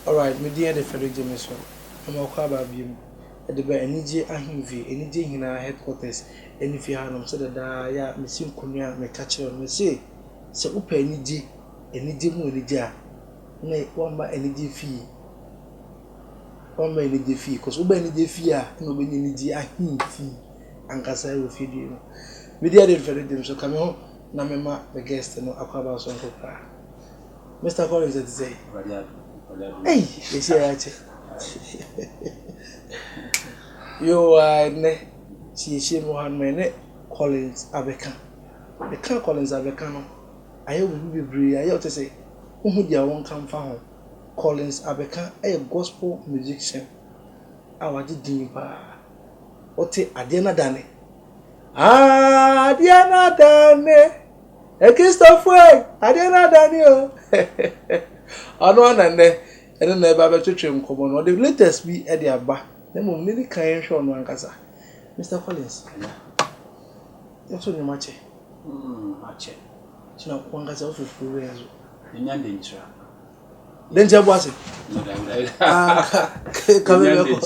Alright, me din de Frederick Jameson, na mawakɔ aba bio mu de ba Anigye Ahemfie, Anigye Nyinaa Headquarters no fie hanom sɛdeɛ daa yɛ a mesi nkonnwa a meka kyerɛ no, mese, Sɛ wopɛ anigye, anigye mu anigye a, na woamma anigye fie, woamma anigye fie, cos woba anigye fie a na wobɛnya Anigye Ahemfie ankasa wɔ fie bio mu. Me din de Frederick Jameson, ka me ho na memma me guest no akɔ aba soronko koraa. Mister Collins ɛte sɛ. Awurade adum Awurade adum. Ɛyi yɛsi ɛyɛ akyɛ. Yoo a ɛnɛ siesie mu ha mɛ ne Collins abɛka. Ɛka Collins abɛka no ayɛ obi bebree ayɛ ɔte sɛ wohu deɛ wɔn ka nfa ho. Collins abɛka ɛyɛ gospel musician a wagye din paa. Ɔte adeɛ na dane. Adeɛ na dane. Akristofo ei, adeɛ no adane o. Ɔno ara na nnɛ ɛne no reba abɛtwetwe nkɔmmɔ no. Ɔde latest bi de aba, na mmom yɛdi kan yɛnhwɛ ɔno ankasa. Mister Collins, Anya, nso nneɛma kyɛ. Mm, akyɛ. Kyena wankasa wo fifiri wei nso. Menya denkyira. ne nkyɛn bu ase ka bɛ bɛ kɔ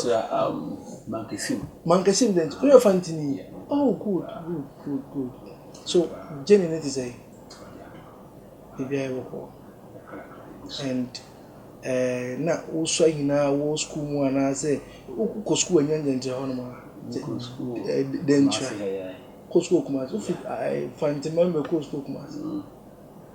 mankesim mankesim de nti oyɛ fantini oh good good good good so jenny ne ti sɛ ebi ayɛ bɔkɔ and ɛɛ na wosua nyinaa wɔ sukuu mu anaasɛ wokɔ sukuu ɛnyɛ nkyɛnkyɛn hɔ nom a dɛnkyerɛ kɔ sukuu kumase wofi fantima mbɛ kɔ sukuu kumase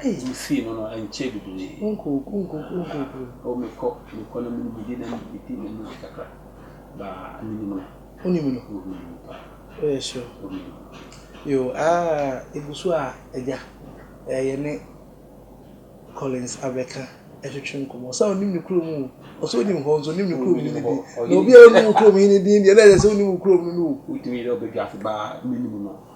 Wofii no no ankyɛ bebree. Wo mekɔ mekɔ na mene medi na medi na medi kakra baa menim no. Wonim no? Wonim no pa. Woyɛ sure? Wonim no. Yo aa egu so a agya ɛɛ yɛne Collins abɛka ɛtwetwe nkɔmɔ ɔsɛ a onim ne kurom o ɔsɛ onim hɔ nso onim ne kurom hene din na obi a onim wo kurom hene din deɛ na ɛsɛ sɛ onim wo kurom no no o. Wotumi yɛ dɛ wobɛdwa ase baa menim no.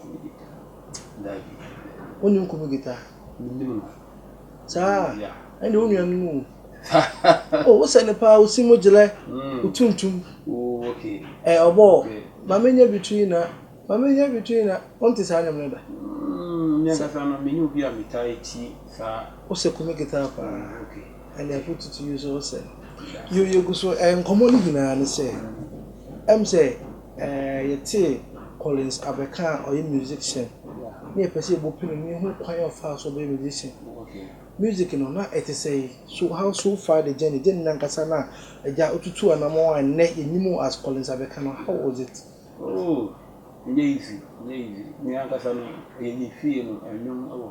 Kubu guitar, daabi. Wonnim kubu guitar? Menim no. Saa a, ɛnde wo nuanom o. Oh, wosɛ no paa, wosi mu gyerɛ, wotuntum. Oh, okay. Ɛ, ɔbɔ, ma menyɛ bi to yi na, ma menyɛ bi to yi na, wonte saa nnwom no da? Mm, me ankasa no, menni obi a metaa tie saa. Wosɛ kubu guitar paa. Oh, okay. Ɛnde I put it to you sɛ wosɛ no. Yɛ, yɛgu so, ɛ, nkɔmmɔ no nyinaa ne sɛ, ɛm sɛ, Ɛɛ yɛtee Collins Abeka a ɔyɛ musician na yɛpɛ sɛ yɛbɔ pini no yɛhu kwan a ɔfaa so bɛyɛ musician. Music no na ɛte sɛn? So how so far the journey, journey no ankasa no a Agya wotutuu anamɔn a nnɛ yɛnim wo as Collins Abeka no how was it? Oh ɛnyɛ easy, ɛnyɛ easy. Me ankasa no ɛyɛ me fie no, nnwom wɔ hɔ.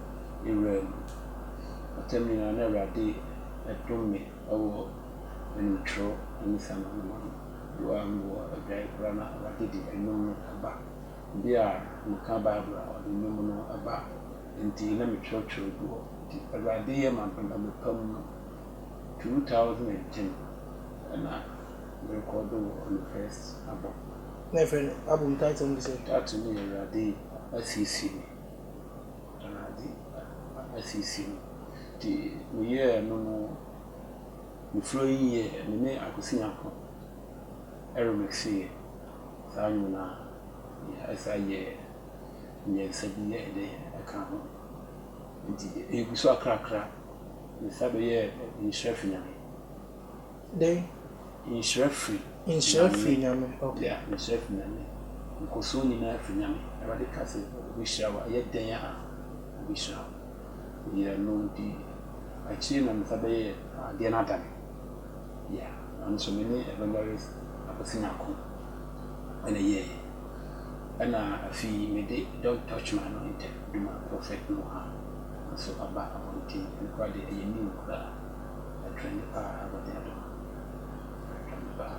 ne werɛ no. Ɔtam nyinaa na Awurade dom me wɔ animtwerɛ ne sango no mu. Berɛ a mewɔ adwaeɛ koraa na Awurade de nnwom no ba. Berɛ a meka Bible a ɔde nnwom no ba. Enti na metwerɛtwerɛ gu hɔ. Nti Awurade yɛ m'adom ɛbɛpam no. Two thousand and ten na merekɔɔdo wɔ me first album. Na yɛfrɛ no album title no de sɛn? Title no yɛ Awurade Asiesie Me. Awurade asiesie no. Nti meyɛɛ no no, mefrɛ yi yɛ me ne Akwasi Nyankopɔn remixeeɛ. Saa nnwom no ara na ɛsan yɛɛ mmiɛnsa bi yɛɛ dɛ ɛkaa ho. Nti ɛgu so akrakra. Mesan bɛyɛɛ Nhyira Fi Nyame. Dɛn? Nhyira firi Nyame. Nhyira firi Nyame, ok. Yeah, nhyira firi Nyame. Nkɔsoɔ nyinaa firi Nyame. Awurade ka sɛ ɔbɛhyira wo a, yɛ dɛn a ɔbɛhyira wo? Yeah, ɛno nti akyire na me nsa bɛyɛɛ adeɛ no ada me. Yeah, ɛno nso me ne Evangelist Akwasi Nyarko ɛna yɛɛyɛ. Ɛna afei me de Don't Touch My Anointed, Duma Prophet Noah nso aba abɔnten. Ɛno koraa deɛ ɛyɛ new koraa. Ɛtwɛn paa abɔdeɛ dɔ no ɛtwɛn paa.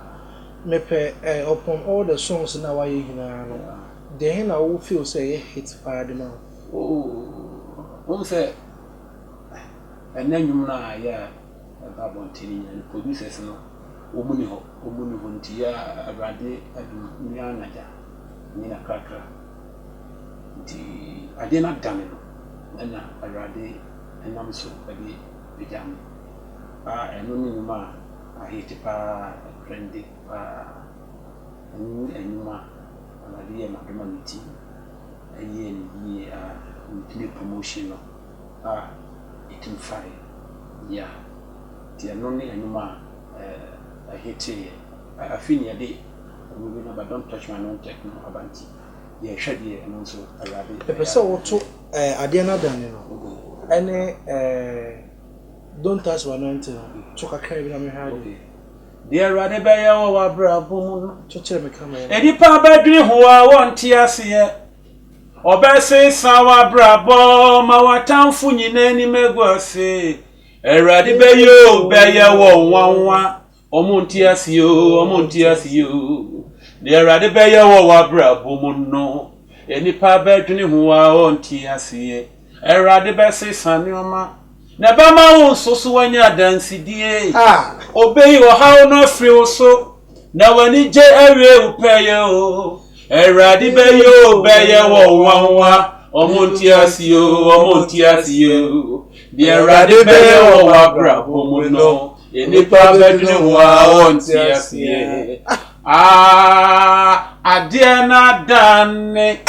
Mepɛ eh upon all the songs no a wayɛ nyinaa no deɛn na wo feel sɛ ɛyɛ hit paa de ma wo? Oh wohu sɛ ɛnɛ nnwom no a ayɛ a ɛba abɔnten no nyinaa no producers no wɔn nni hɔ wɔn nni hɔ nti a awurade adom me ara na gya me na krakra nti adeɛ no adane no ɛna awurade nam so ɛde Agya no. A ɛno ne nnwuma a ahete pa ara a ɛkorɛ nde pa ara. Ɛno ne nnwuma a Awurade yɛɛ ma dɔm a mete mu. Ɛyɛɛ no yie a metumi promotion no a ɛtumi faeɛ. Ya. Nti ɛno ne nnwuma a ahete yɛ. A afe nyinaa yɛde nnwuma bi no aba, don't touch my anointed no aba nti yɛrehwɛ deɛ ɛno nso Awurade ɛyɛ a. Mepɛ sɛ woto Ɛɛ adeɛ no adane no ɛne ɛɛ don't touch my anointing no to kakra bi na mehwɛ adeɛ. Deɛ Awurade bɛyɛ wɔ w'abrabɔ mu no. Kyekyere me ka mɛyɛ. Nnipa bɛdwene ho a wɔnte aseɛ. Ɔbɛsesa w'abrabɔ ma w'atamfo nyinaa anim agu ase. Awurade bɛyɛ o bɛyɛ wɔ nwanwa Wɔn nte ase oo, wɔn nte ase oo. Deɛ Awurade bɛyɛ wɔ w'abrabɔ mu no, nnipa bɛdwene ho a wɔnte aseɛ. Awurade bɛsesa nneɛma, na ɛbɛma wo nso so woanya adansedie. Ɔbɛyi ɔhaw no afiri wo so, na w'anigye awie wo pɛyɛ o. Awurade bɛyɛ o, bɛyɛ wɔ wo nwanwa. Wɔn nte ase oo, wɔn nte ase oo. Deɛ Awurade bɛyɛ wɔ w'abrabɔ mu no, Nnipa bɛdwene ho ara wɔnte aseɛ. Ah, adeɛ no adane.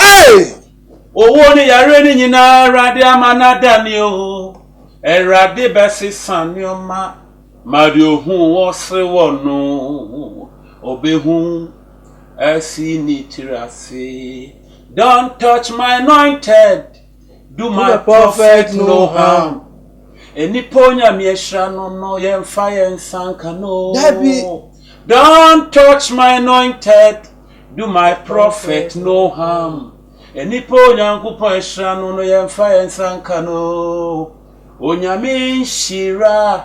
Owuo ne yareɛ no nyinaa Awurade ama no adane o. Awurade bɛsesa nneɛma ma deɛ ɔhu wɔ sere wɔ no. Ɔbɛhu asi ne tiri ase. Don't touch my anointed. Do my prophet no harm. Nnipa Onyame ahyira no no, yɛmfa yɛn nsa nka no. Dabi. Don't touch my anointed, do my prophet no harm. Nnipa Onyankopɔn ahyira no no, yɛmfa yɛn nsa nka no. Onyame nhyira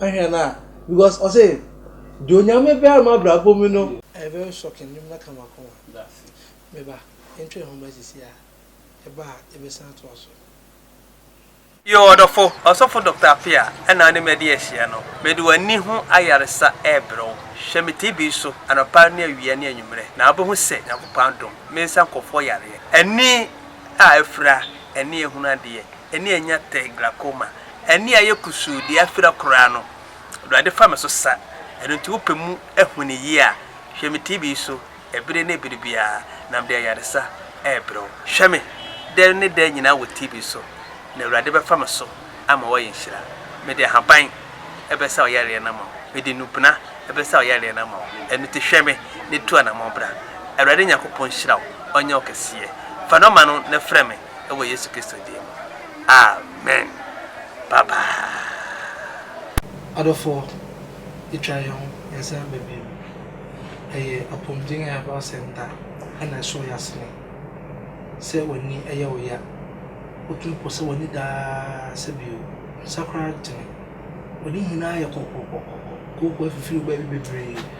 Ahwɛ no a because ɔse deɛ onyame bɛyɛ ma abrabɔ mu no. Ɛyɛ very shocking nnwom no ka m'akoma. Me ba yɛntwa yɛn ho mmra sisi a yɛba a yɛbɛsan atoa so. Yoo ɔdɔfo, Ɔsɔfo Doctor Appiah na wo ne me adi ahyia no. Mede w'ani ho ayaresa rebrɛ wo. Hwɛ me TB so anɔpa ne awia ne anwummerɛ na wobɛhu sɛ Nyankopɔn adom me nsa nkɔfoɔ yareɛ. Ani a afira, ɛne ahunu adeɛ, ɛne anya tɛ, glaucoma, ani a ɛyɛ kusuu, deɛ afira koraa no, Awurade fa me so sa, ɛno nti wopɛ mu ahu no yie a, hwɛ me TV yi so ɛbere ne ɛbere biara, na mede ayaresa rebrɛ wo. Hwɛ me dɛ ne dɛ nyinaa wɔ TV so, na Awurade bɛfa me so ama woayɛ nhyira. Mede ahaban bɛsa wo yareɛ no ama wo, mede nnubena bɛsa wo yareɛ no ama wo, ɛno nti hwɛ me na tu anammɔn bra. Awurade Nyankopɔn nhyira wo, ɔnyɛ wo kɛseɛ. Fa nɔma no na frɛ me. wɔ Yesu Kristo din mu, amen. Bye bye. Adɔfoɔ, yɛtwa yɛn ho yɛn san ba bio. Ɛyɛ apɔmuden a ɛba sɛ nda na ɛsɔ yɛn asene. Sɛ w'ani yɛ wo ya, wotumi pɔ sɛ w'ani da ara sɛ bio, nsa koraa ntene. W'ani nyinaa yɛ kɔkɔkɔkɔ, kooko afifiri wo baabi bebree.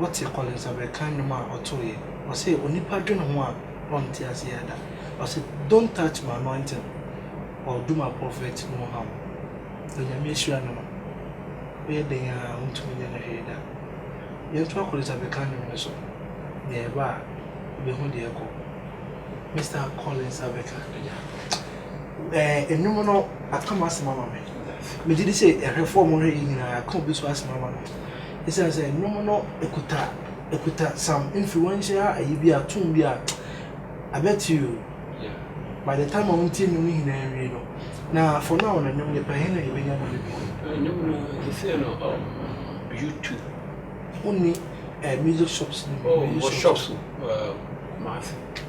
Wote Collins Aberkan nnwom a ɔtoeɛ? Ɔse onipa dwene ho a ɔnte aseɛ da Ɔse don't touch my anointing or do my prophet no harm Onyame ahyira no no woyɛ dɛn a wontumi nyɛ no hwee da Yɛntoa Collins Aberkan nnwom no so Deɛ ɛba a wobɛhu deɛ ɛkɔ Mister Collins Aberkan agya Ɛɛ nnwom no aka m'asɛm ama me Megyedi sɛ ahwɛfoɔ a wɔhwɛ yei nyinaa aka obi nso asɛm ama no. Esiane sɛ nnwom no kuta kuta some influential ayi bi a, tune bi a, I bet you by the time a wɔntie nnwom no nyinaa nwie no, na for now no nnwom no yɛpɛ he na yɛbɛnya nnwom no bi. Nnwom no te sɛ no um, YouTube. Wonni eh, music shops no bi? Oh, wɔ shops uh, Kumasi.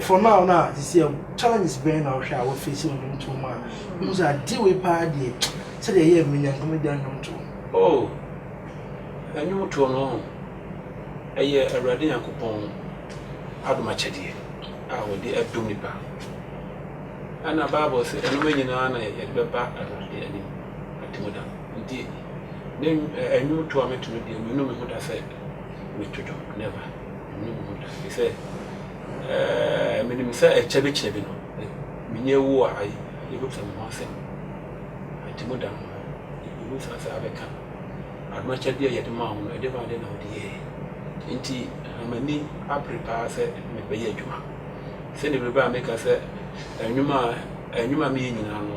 For now no a sisi a challenges bɛn na wohwɛ a wo face wɔ nnwomtoɔ mu a wohu sɛ adeɛ wei paa deɛ sɛdeɛ ɛyɛ a menya nka mɛda nnwomtoɔ mu? Oh nnwomtoɔ no ho ɛyɛ Awurade Nyankopɔn adom akyɛdeɛ a ɔde adom nipa ɛna bible sɛ ɛnom nyinaa na yɛde bɛba Awurade anim atem da nti ne nnwomtoɔ a meto no deɛ menu me ho da sɛ meto dwom never. Ɛnyɛ wu da, ɛfiri sɛ, eh, menim sɛ ɛkyɛ bi kyɛ bi no, eh, menyɛ wu a, ayi, yɛbɛbisa me ho asɛm. Ɛnti mu da no, yɛbɛbisa sɛ abɛka adom akyɛdeɛ a yɛde maa wo no, ɛdeɛbɛn adeɛ na wode yɛeɛ? Ɛnti na m'ani abere paa sɛ mebɛyɛ adwuma, sɛdeɛ berɛ biara meka sɛ, nnwuma a, nnwuma a meyɛ nyinaa no,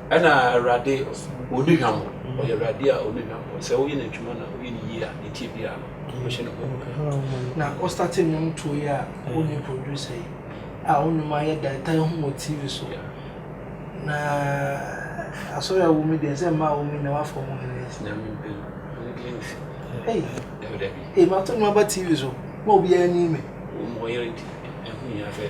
Ɛna Awurade ɔni hwam, ɔyɛ Awurade a ɔni hwam. Sɛ woyɛ n'adwuma na woyɛ no yie a, deɛ ɛteɛ biara no, wobɛhyɛ no nkuran. Na wo starte nnwom tuo yi a wonni producer yi a wo nnwom ayɛ da ɛtaa hu wɔ TV so na asɔre a wɔmi deɛ sɛ mmaa wɔmi na wafɔ mu hene yi. Nyame mpɛ yi, ɔne deɛ nsi. Ei, Dabi dabi. ei, mato nnwom aba TV so ma obiara ni me. Wɔn wɔyere nti, ɛho hia sɛ.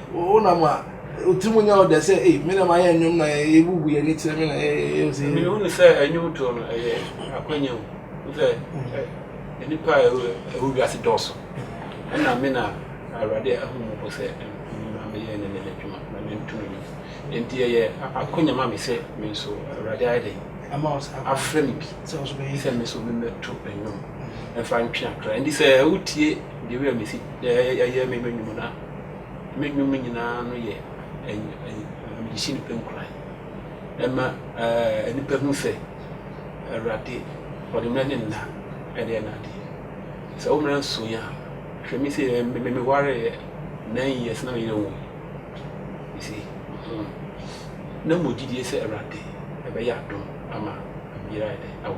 Wonam a, wo tirim nyɛ wo dɛ sɛ, Ei, me na mayɛ nnwom na yɛbubu yɛn ani kyerɛ me na yɛyɛ sei. Mehunu sɛ nnwom to no yɛ akwannya mu. Wohu sɛ nnipa a ɛwɔ wiase dɔɔso, ɛnna me na Awurade ahu me mmɔbɔ sɛ me ma meyɛ ne nnɛ adwuma na mantu me ho. Enti ɛyɛ akwannya ma me sɛ me nso Awurade ayɛ dɛn? Afrɛ me bi sɛ me nso memmɛto nnwom mfa ntwe akra. Enti sɛ wotie The Way a Mesi Yɛ Nnwom no a, Me nnwom nyinaa no yɛ mede hyɛ nnipa nkuran. Ɛma nnipa hu sɛ Awurade ɔde mmara ne nna de yɛ n'ade. Sɛ wo mmara nsuo a, hwɛ me sei mewareeɛ nine years na me yere nwui. You see, na mewɔ gyedie sɛ Awurade bɛyɛ adom ama me yere ayɛ dɛn? Awo.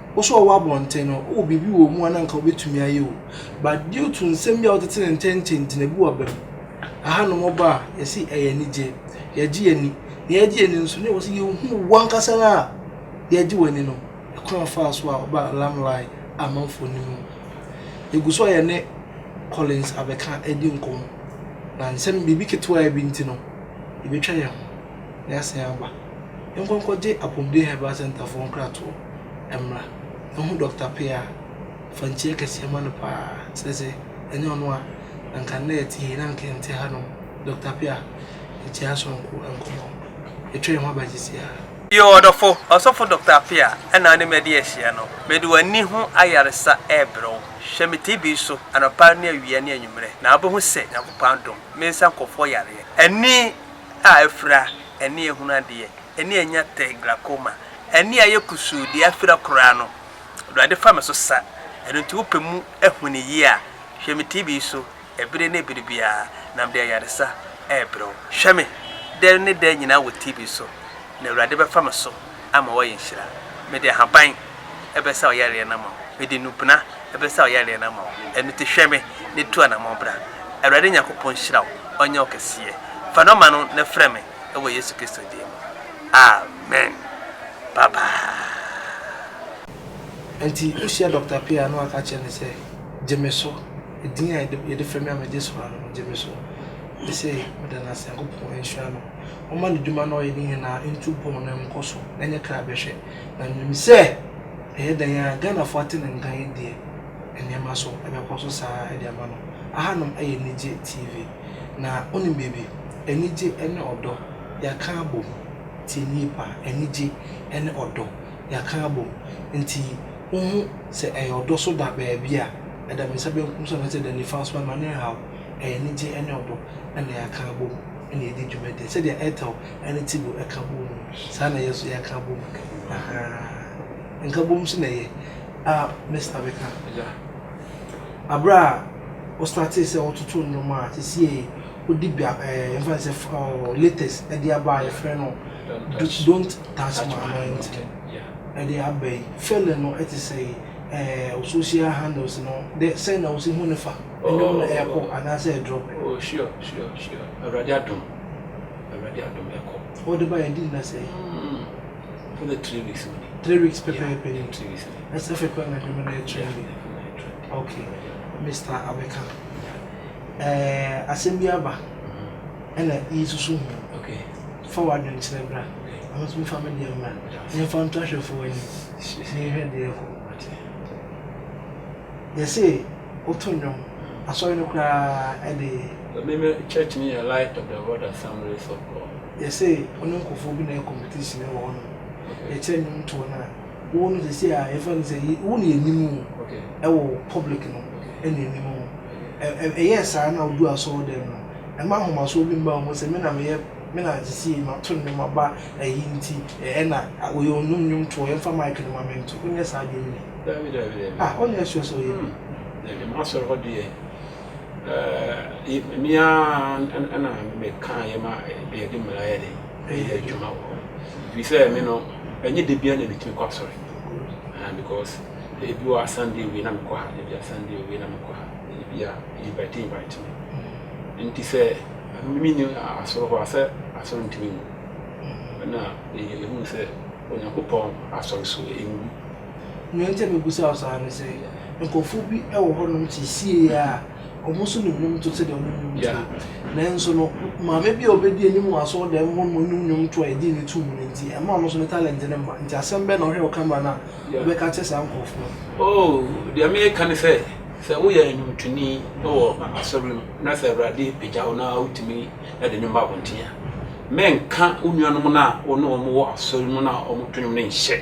Wo so a wowɔ abɔnten no, wowɔ biribi wɔ wo mu a na anka wobɛtumi ayɛ o. But due to nsɛm bi a wotete ne ntɛn ntintin, ebi wɔ aba mu. Ɛhanom ɔba a, yɛse ɛyɛ anigyeɛ. Yɛgye yɛn ani. Deɛ yɛgye yɛn ani no nso, na ɛwɔ sɛ yɛhu wo ankasa no a yɛgye w'ani no, ɛkwan a ɔfaa so a ɔbaa Limelight amanfoɔ no mu. Yɛgu so a yɛne Collins Abeka redi nkɔmmɔ. Na nsɛm, biribi ketewaa bi nti no, yɛbɛtwa yɛn ho. Yɛasan aba. Nkɔ nkɔgye Apomuden Herbal Centre foɔ nkratoɔ mmra. Ɛho Doctor Pea fa nkyia kɛseɛ ma no paa. Kyerɛ sɛ ɛnyɛ ɔno a anka nnɛ yɛte he na anka yɛnte ha nom. Doctor Pea nkyia sononko nkɔmmɔ. Yɛtwa yɛn ho aba sisiaa. Yoo ɔdɔfo Ɔsɔfo Doctor Pea na wone me adi ahyia no. Mede w'ani ho ayaresa rebrɛ wo. Hwɛ me TB so anɔpa ne awia ne anwummerɛ na wobɛhu sɛ Nyankopɔn adom me nsa nkɔfoɔ yareɛ. Ani a afira, ani a ehunu adeɛ, ani a anya tɛ, glaucoma, ani a ayɛ kusuu, deɛ afira koraa no, Awurade fa me so sa, ɛno nti wopɛ mu ahuni yie a, hwɛ me TV yi so ɛbere ne ɛbere biara, na mede ayaresa rebrɛ wo. Hwɛ me dɛ ne dɛ nyinaa wɔ TV so, na Awurade bɛfa me so. ama woayɛ nhyira. Mede ahaban bɛsa wo yareɛ no ama wo, mede nnubena bɛsa wo yareɛ no ama wo, ɛno nti hwɛ me na tu anammɔn bra. Awurade Nyankopɔn nhyira wo, ɔnyɛ wo kɛseɛ. Fa nɔma no na frɛ me wɔ Yesu Kristo din mu. Amen. Bye bye. Ɛnti wohyia Dɔkta Pii a na waka kyerɛ no sɛ, Gye me so, din a yɛde frɛ me a megye so ara no, gye me so. Sesei meda no ase, Nyankopɔn nhyira no. ɔma n'edwuma na ɔyɛ ne nyina ntu pon na nkɔ so nyɛ kra bɛhwɛ na minim sɛ ɛyɛ dɛn a Ghanafo ate ne nka yi deɛ nneɛma so bɛkɔ so saa de ama no. Ahanom yɛ Nigye TV na wonim biribi, anigye ne ɔdɔ yɛaka abom, tie me yie paa, anigye ne ɔdɔ yɛaka abom nti wo hu sɛ ɛyɛ ɔdɔ so da baabi a ɛda me nsa benkum so anaa sɛ ɛda nifa so a ma me nhaw, ɛyɛ anigye ne ɔdɔ. na yɛaka abom na yɛadi dwuma dɛ sɛdeɛ Ethel ne Tibor ka boom no, saa na yɛn nso yɛaka abom. Ahaa. Nkabom nso na ɛyɛ. A Mister bɛka agya. Aberɛ a wo startee sɛ wototo nnwom a, sesiei wode bia ɛɛ yɛmfa no sɛ ɔɔ latest ɛde aba a yɛfrɛ no Don't Touch My Anointing ɛde aba yi. Feeling no ɛte sɛn? Ɛɛ wo social handles no dɛ sɛn na wosi hu no fa? Ɛnyɛ wo na ɛkɔ anaasɛ ɛduro. Oh sure sure sure awurade adom awurade adom ɛkɔ. Wo de ba yɛ di na sɛ. Mm for the three weeks only. Three weeks pɛpɛɛpɛ ni. Three weeks ni. Ɛsɛ fɛ kura na adwuma na yɛ trend bi. Okay Mister Abeka ɛɛ asɛm bi aba ɛna yi susu ho. Okay. Fa wa adwene kyerɛ bra. Ama so mi fa mi deɛ mra. Yɛn fa nto ahwɛfo wɔ anim. Yɛn hwɛ deɛ ɛkɔ. Yɛ se. Woto nnwom. Asɔre no koraa de. Me me church no yɛ Light of the World Assemblies of God. Yɛse ɔne nkorɔfoɔ bi na ɛyɛ competition wɔ hɔ nom. Yɛkyerɛ nnwom toɔ no a, wo no sɛsei a yɛfrɛ no sɛ wo na yɛnim wo ɛwɔ public no ɛna ɛnim wo. Ɛyɛɛ saa na woduu asɔɔdɛm no, ɛma ahomasoɔ bi mmaa wo mu sɛ me na meyɛ, me na sɛsei mato nnwom aba ayi nti ɛna wɔyɛ ɔnom nnwom toɔ yɛmfa mic no ma me nto. Wonyɛ saa deɛ me ni. Dabi dabi dabi. Ah ɔne yɛ sua sɛ ɔyɛ bi. Dabi m'asɔre hɔ deɛ ɛɛ mia ɛna me ka yɛ ma deɛ de mmara yɛ de ɛyɛ adwuma wɔ hɔ. Fi sɛ me no ɛnyɛ de bia na metumi kɔ asɔre. Ah because ebi wɔ a Sunday wie na mekɔ ha ebi a Sunday wie na mekɔ ha ebi a invite invite me. Nti sɛ mimi ni asɔre hɔ asɛ asɔre ntumi ngu. Ɛna ehun sɛ Onyankopɔn asɔre so engu. Nea enti a mebisa wo saa ne sɛ, nkurɔfo bi wɔ hɔnom seesei a, wɔn nso nim nnwonto sɛdeɛ wɔnom nnwontoɔ yi. Nanso no, maame bi a ɔbɛdi anim wɔ asɔredan mu hɔ nom nim nnwonto a yɛgye no tom no nti, ɛmma ɔno nso ne talente no mma. Nti asɛm bɛn na wohwɛ wɔ camera no a wobɛka akyerɛ saa nkurɔfo no? Oh, deɛ mereka ne sɛ, sɛ woyɛ nnwontoni wɔ asɔre mu na sɛ Awurade pagya wo na wotumi de nnwom ba abɔnten a, mɛnka wo nuanom no a wo ne wɔn wɔ asɔre mu no a wɔto nnwom no nhyɛ.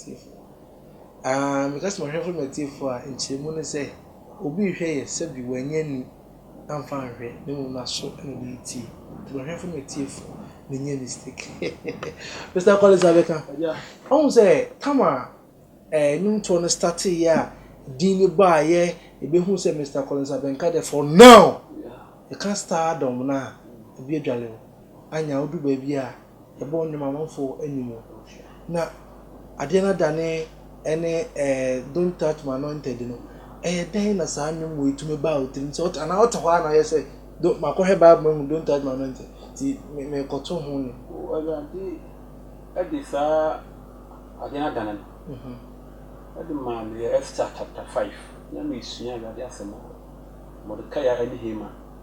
Atiefo. Aah, meka sɛ ɔhwɛfo ma atiefo a, nkyerɛmu ne sɛ, obi rehwɛ yɛn sɛbe wanyi ani amfa anhwɛ, na mmom n'aso na ɔde retie. Nti ɔhwɛfo ma atiefo, menyɛɛ mistake. Mister Collins abɛka. Ɔhu sɛ tam a ɛɛ nnwomtoɔ no starteeɛ a din no baeɛ, yɛbɛhu sɛ Mister Collins abɛnka deɛ for now, yɛka stardom no a, obi adwale wo. Anya wodu baabi a. Yɛbɔ nnwom amanfo anim na adeɛ no adane ɛne eh, don't touch my anointed no ɛyɛ dɛn na saa nnwom wɔ ɛtumi baa wo tirim sɛ anaa ɔte hɔ a na ɔyɛ sɛ makɔhwɛ bible mahu don't touch my anointed nti mekɔto ho ne awurade ɛde saa adeɛ no adane no ɛde mhm. maa meyɛ Esther chapter 5 na mesua awurade asɛm wɔ Mordecai ɛne Haman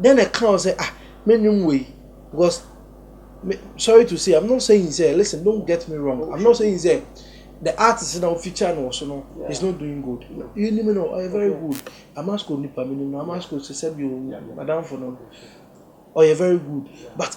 Dɛn na ɛka wo sɛ ah me nnwom wei because me sorry to say I'm not saying sɛ listen don't get me wrong I'm not saying sɛ the artist na wo feature no wɔ so no is not doing good menim no ɔyɛ very good Amasco nipa menim no Amasco sɛ sɛbi o m'adamfo no ɔyɛ very good but.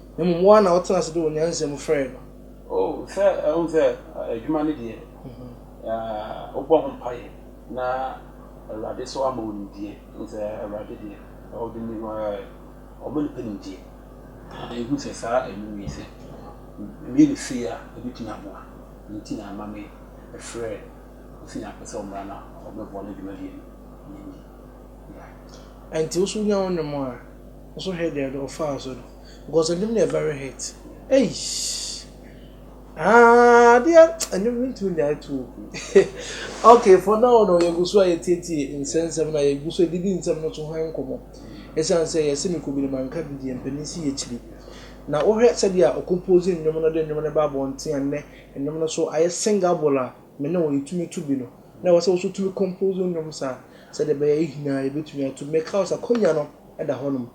Na mmom wo ara na wotena ase de wo nyansa mu frɛɛ no. O, sɛ ɛho sɛ adwuma no deɛ, wobɔ ho mpaeɛ na Awurade nso ama wo nimdeɛ. Wohu sɛ Awurade deɛ, ɔde ne ho ara ɔma nnipa nimdeɛ. Na yɛhu sɛ saa nnwom yi sɛ meyɛ no sei a, ɛbɛtumi aboa. Ɛno nti na ɛma mefrɛ Kofi Nyarko sɛ ɔmmra na ɔmmɛboa me dwumadie no. Ɛnti wo nso wonya wo nnwom a, Nso hwɛ deɛ no ɔfaa so no because ɛnwom no yɛ very hit eish aah adeɛ ɛnwom no ntumi nyae toɔ bi ok for now no yɛgu so a yɛtietie nsɛnsɛm no a yɛgu so ɛdidi nsɛm no so ho nkɔmmɔ ɛsiane sɛ yɛse mekɔ bi no manka bi deɛ mpanin si yɛkyiri na wohwɛ sɛdeɛ ɔkompose nnwom no de nnwom no ba abɔnten a nnɛ nnwom no so ayɛ singable a me ne wo yɛtumi to bi no na ɛwɔ sɛ wo so tumi compose nnwom saa sɛdeɛ ɛbɛyɛ yɛn nyinaa yɛbɛtumi ato bi meka wo sɛ akonnwa no da hɔnom.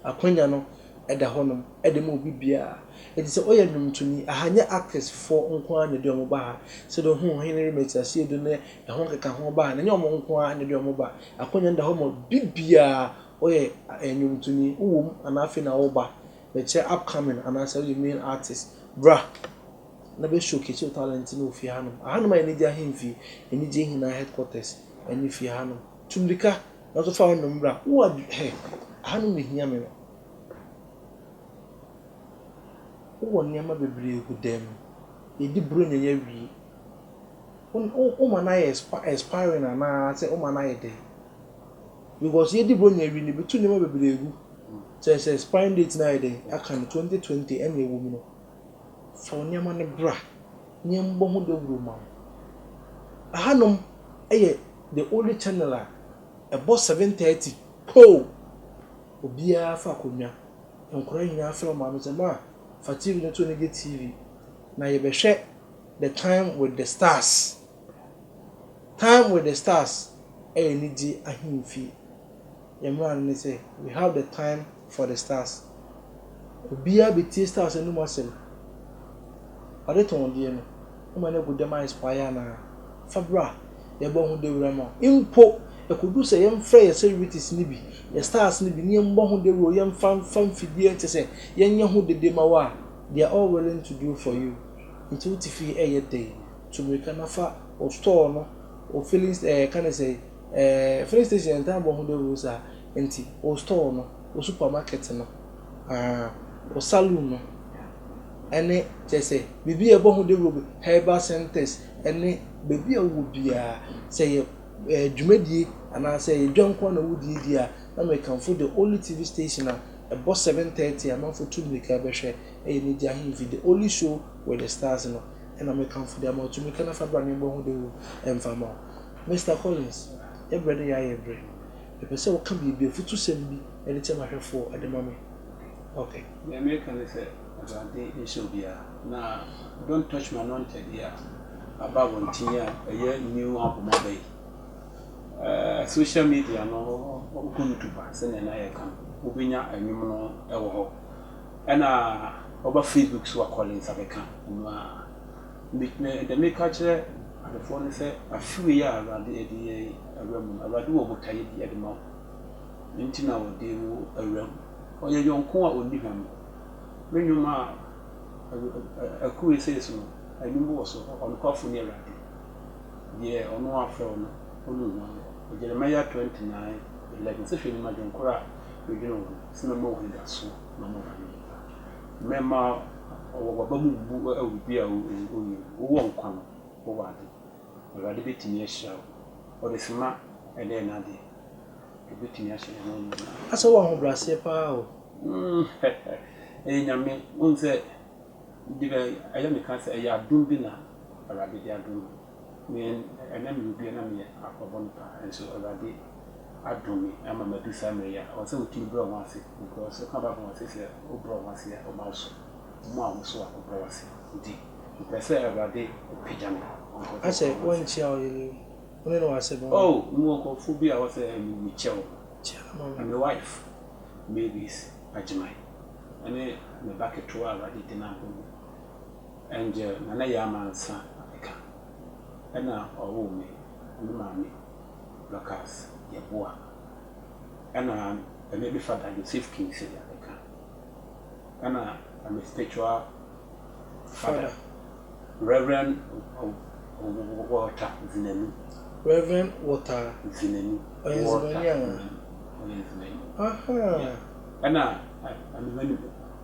Akwanya no da hɔnom de ma obi biara. Enti sɛ woyɛ nnwontoni, aha nyɛ artist foɔ nko ara na ɛde wɔn ba ha. Sɛdeɛ wohu Ɔhene Rema ti aseɛ du ne ɛho nkeka ho ba ha no, ɛnyɛ wɔn nko ara na ɛde wɔn ba. Akwanya no da hɔ ma obi biara. Woyɛ nnwontoni, wowɔ mu anaa afei na woreba, mekyerɛ upcoming anaasɛ woyɛ male artist, bra na bɛ showcase wo talent no wɔ fie hanom. Ahanom ayɛ anigye ahemfie, anigyeɛ nyinaa headquarters ne fie hanom. Tu mmirika, nanso fa wo nnɔn bra. Wo adwe hɛ, Ahanom na ehia me no. Wowɔ nneɛma bebree gu dan mu. Yɛdi Buronya yi awie. Wo wo woma no ayɛ expi expiring anaasɛ woma no ayɛ dɛn? Because yɛadi Buronya awie no, yɛbɛtu nneɛma bebree agu. Kyerɛ sɛ expiring date no ayɛ dɛn? Yɛaka no, twenty twenty ɛnna ɛwom no. Fa wo nneɛma no bra na yɛmmɔ ho dawuro mma wo. Ɛhanom yɛ the only channel a ɛbɔ seven thirty poo! Obiara fa akonnwa. Nkwadaa nyinaa frɛ wɔn maame sɛ, Ma, fa TV no to no gye TV, na yɛbɛhwɛ The Time With The Stars. Time With The Stars yɛ anigyeɛ ahemfie. Yɛn mmara no ne sɛ we have the time for the stars obiara bɛtie stars anom asɛm ɔde tɔn deɛ no woma no agu dɛm a expire anaa fa bra yɛbɔ ho dawura ma wo mpo ɛkɔduru sɛ yɛmfrɛ yɛ celebrities no bi yɛ stars no bi na yɛmmɔ ho dawura o yɛmfa mfa mfidie kyɛ sɛ yɛnyɛ ho dede ma wo a they are all willing to do for you nti wote fie ɛyɛ dɛn tu mmirika na fa wo store no wo feelings ɛɛ ka ne sɛn. Ɛɛ filling station yɛ ntaa bɔ ho dawuro saa nti wo store no wo supermarket no aa wo saloon no ɛne kyerɛ sɛ biribi a ɛbɔ ho dawuro bi herbal centres ɛne baabi a wowɔ biara sɛ yɛ ɛɛ dwumadie anaa sɛ yɛ dwa nko ara na wodie die a na mekamfo the only TV station a ɛbɔ seven thirty a amanfo tu mmirika bɛhwɛ ɛyɛ ne gya ahemfi the only show with the stars no ɛna mekamfo de ama wo tu mmirika na fa bra na yɛbɔ ho dawuro ɛmfa ma wo. Mister Collins, yɛ berɛ no yɛ ayɛ berɛ. Mepɛ sɛ wo ka biribi, afutusɛm bi, de kyerɛ m'ahwɛfoɔ de ma me. Ok. Deɛ mereka ne sɛ, Awurade nhyɛ obiara, na don't touch my anointed yi a aba abɔnten a ɛyɛ new album aba yi, ɛɛ, social media no, wokɔ YouTube a, sɛdeɛ na yɛka no, wobɛnya nnwom no wɔ hɔ. Ɛna woba Facebook so a, Collins abɛka, ɔno ara. Megyina ha dɛ mereka akyerɛ adefoɔ no sɛ, afe wei a Awurade ɛde yɛn awura mu no, Awurade wɔ botaeɛ bi ɛde ma wo. Nti na ɔde wo awura mu. Ɔyɛ yɔnko a ɔnni hwam. Me nnwom a ɛkɔ wei sei so no, nnwom bi wɔ so, Ɔnokwafo ne Awurade, deɛ ɔno afrɛ wo no, ɔnnu wo ano. Jeremiah twenty nine eleven sɛ, Hwɛ, mema dwonkoro a medwene wo no, sɛ mɛma wo anidasoɔ na mɛma wo ayɔnkofa. Mɛma w'aba mu mmu wɔ biribi a woyɛ mu. Wowɔ nkwa no, wowɔ ade. Awurade bɛtumi ahyira wo. Ɔde sima na ɛyɛ n'ade. Ɔbɛtumi ahyɛ yɛn nyinaa. Asɛ wowɔ ahobrɛaseɛ pa ara o. Umm ɛyɛ Nyame. Wohu sɛ, ɛyɛ a meka sɛ ɛyɛ adom bi na Awurade de adom me. Me a na meyɛ obi a na meyɛ akorɔbɔ no paa nso Awurade adom me ama madu saa mmerɛ yi a ɛwɔ sɛ wotumi brɛ wɔn ho ase because woka Bible ho a ɔse sɛ wobrɛ wo ho ase a ɔma woso ɔma wo ahosuo a wobrɛ wo ase nti mepɛ sɛ Awurade pagya me because Asɛ ɛwɔ sɛ wonkyia ɔyere yi wo ne no wɔ asɛm o. Oh mewɔ nkurɔfoɔ bi a ɛwɔ sɛ me mekyia wɔn Kyia no ma me. Me wife Mavis Agyeman ɛne me ba ketewa a Awurade de no abom me. Angel Nana Yaa Mansa Eka na ɔwoo me. Me maame Dorcas Yeboah na me be fada Joseph Kingsley Adeka na me spiritual fada Rev. Walter Zinanu. Rev. Walter Zinanu. Ɔyɛ Nzimani anaa? Ɔyɛ Nzimani. Ahaa. Yeah. Ɛna me manume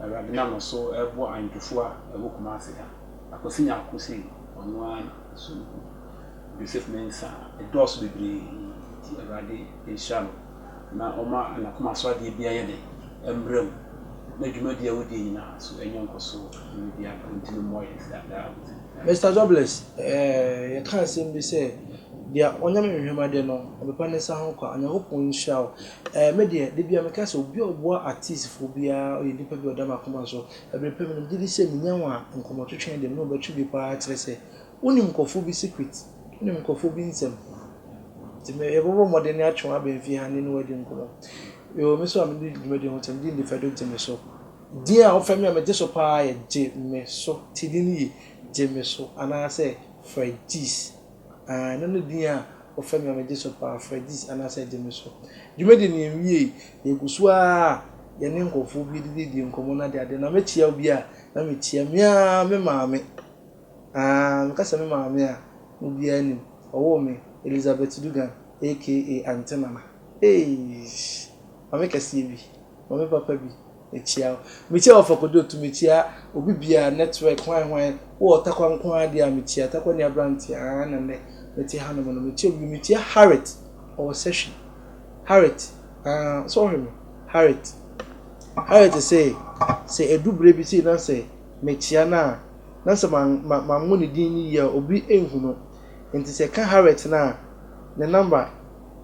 Awurade nam no so reboa Anjufo a ɛwɔ Kumasi ha. Akwasi Nyarko sei, ɔno ara na ɛso no gu. Joseph Mensah, ɛdɔɔso bebree nti Awurade nhyira no na ɔma n'akoma so adeɛ biara yɛ den mmra mu na dwumadie a wodie nyinaa so nya nkɔsoɔ mmerɛ biara pɛ. Ɔntumi mmoa yɛn saa daa akwasi. Mister Jobless, eh, yɛka asɛm bi sɛ, Deɛ ɔnyɛ me nhwɛmadeɛ no, ɔbɛpa ne nsa ho kwa. Onyankopɔn nhyira wo. Eh me deɛ da biara meka sɛ obi a ɔboa artist foɔ biara ɔyɛ nipa bi a ɔda m'akoma so ɛberɛ pɛ menim gyedi sɛ menya wo a nkɔmɔtwetwe no deɛ me ne wo bɛtwe bi paa kyerɛ sɛ wonim nkurɔfoɔ bi secret wonim nkurɔfoɔ bi nsɛm nti me yɛbɛbɔ mmɔden na atwe wo abɛn fie ha ne ne wo adi nkɔmɔ yoo me nso a medi dwumadi ho ntɛm din de fɛ do gye me so din a wofɛ me a megye so paa yɛ gye me so ti din yi gye me so anaasɛ Fredgyz. Aane, na ne din a wɔfrɛ me a megye so paa, Fredis anaasɛ Gye Me So. Dwumadi no yɛnwiei, yɛgu so ara a yɛne nkurɔfoɔ bi redididie nkɔmmɔ no adeade, na mɛkyia obi a, na mekyia me ara me maame. Aah, meka sɛ me maame a, na obiara nim, ɔwoo me, Elizabeth Dugan aka Aunty Nana. Eeish! Maame kɛseɛ bi, maame papa bi, Mekyia wo. Mekyia wo Fako Dotu, mekyia obi biaa, network hwan hwan, wowɔ Ɔtakwa nko ara deɛ a mekyia, Ɔtakwa ni aberanteɛ aa na nnɛ mete hanom no, mekyia obi, mekyia Harriet ɔwɔ Sɛhwi, Harriet aa so ɔhwɛ me, Harriet, Harriet se sɛ ɛduru berɛ bi sei na sɛ mekyia no a na sɛ manwo ne din no yie a obi nhu no, nti sɛ ɛka Harriet no a ne number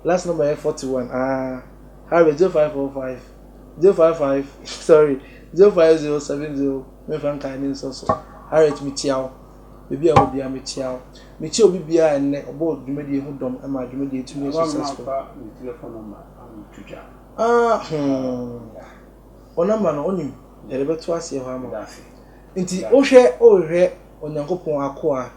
last number yɛ 41 aa Harriet 0545. zero five five sorry zero five zero seven zero mɛnfa nkae ne nsɔ so Harriet mekyia wo baabi a ɛwɔ biara mekyia wo mekyia obi biara ɛnnɛ ɔbɔ dwumadie ho dɔm ɛma dwumadie tumi yɛ successful ah hmm wo namba no onim yɛde bɛto aseɛ hɔ ama nti wohwɛ wohwɛ onyankopɔn akoa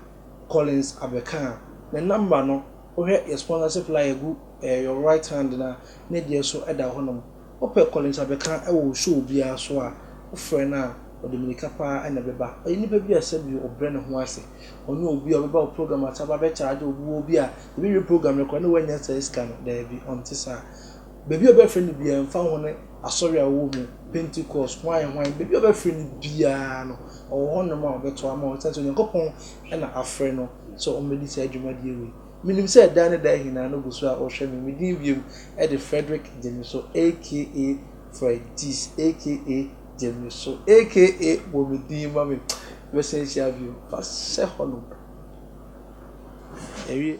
Collins abɛka a ne namba no Wohwɛ yɛ sponsorship flyer gu eh your right hand no a, ne deɛ so da hɔ nom. Wopɛ Collins Abeka wɔ wo show biara so a, wofrɛ no a, ɔde mirika paa na ɛbɛba. Ɔyɛ nipa bi a sɛbi ɔbrɛ ne ho ase. Ɔnyɛ obi a ɔbɛba wo program ase aba abɛ charge wo boɔ bi a yɛbɛwie program no koraa na wannya saa sika no. Daabi, ɔnte saa. Baabi a ɔbɛfrɛ no biara, ɛmfa ho ne asɔre a ɔwɔ mu, Pentecost, hwan hwan, baabi a ɔbɛfrɛ no biara no, ɔwɔ hɔ nom a ɔbɛto ama wo, ɛsiane sɛ Onyankopɔn na afrɛ no. sɛ ɔmmɛdi saa dwumadie wei. Menim sɛ daa ne daa ahinaa no gu so a ɔrehwɛ me. Me din wiem de Frederick Gyemiso aka Fredis aka Gyemiso aka bɔ me din ma me. Yɛbɛsan ahyia bio. Fa hyɛ hɔnom. Yɛawie.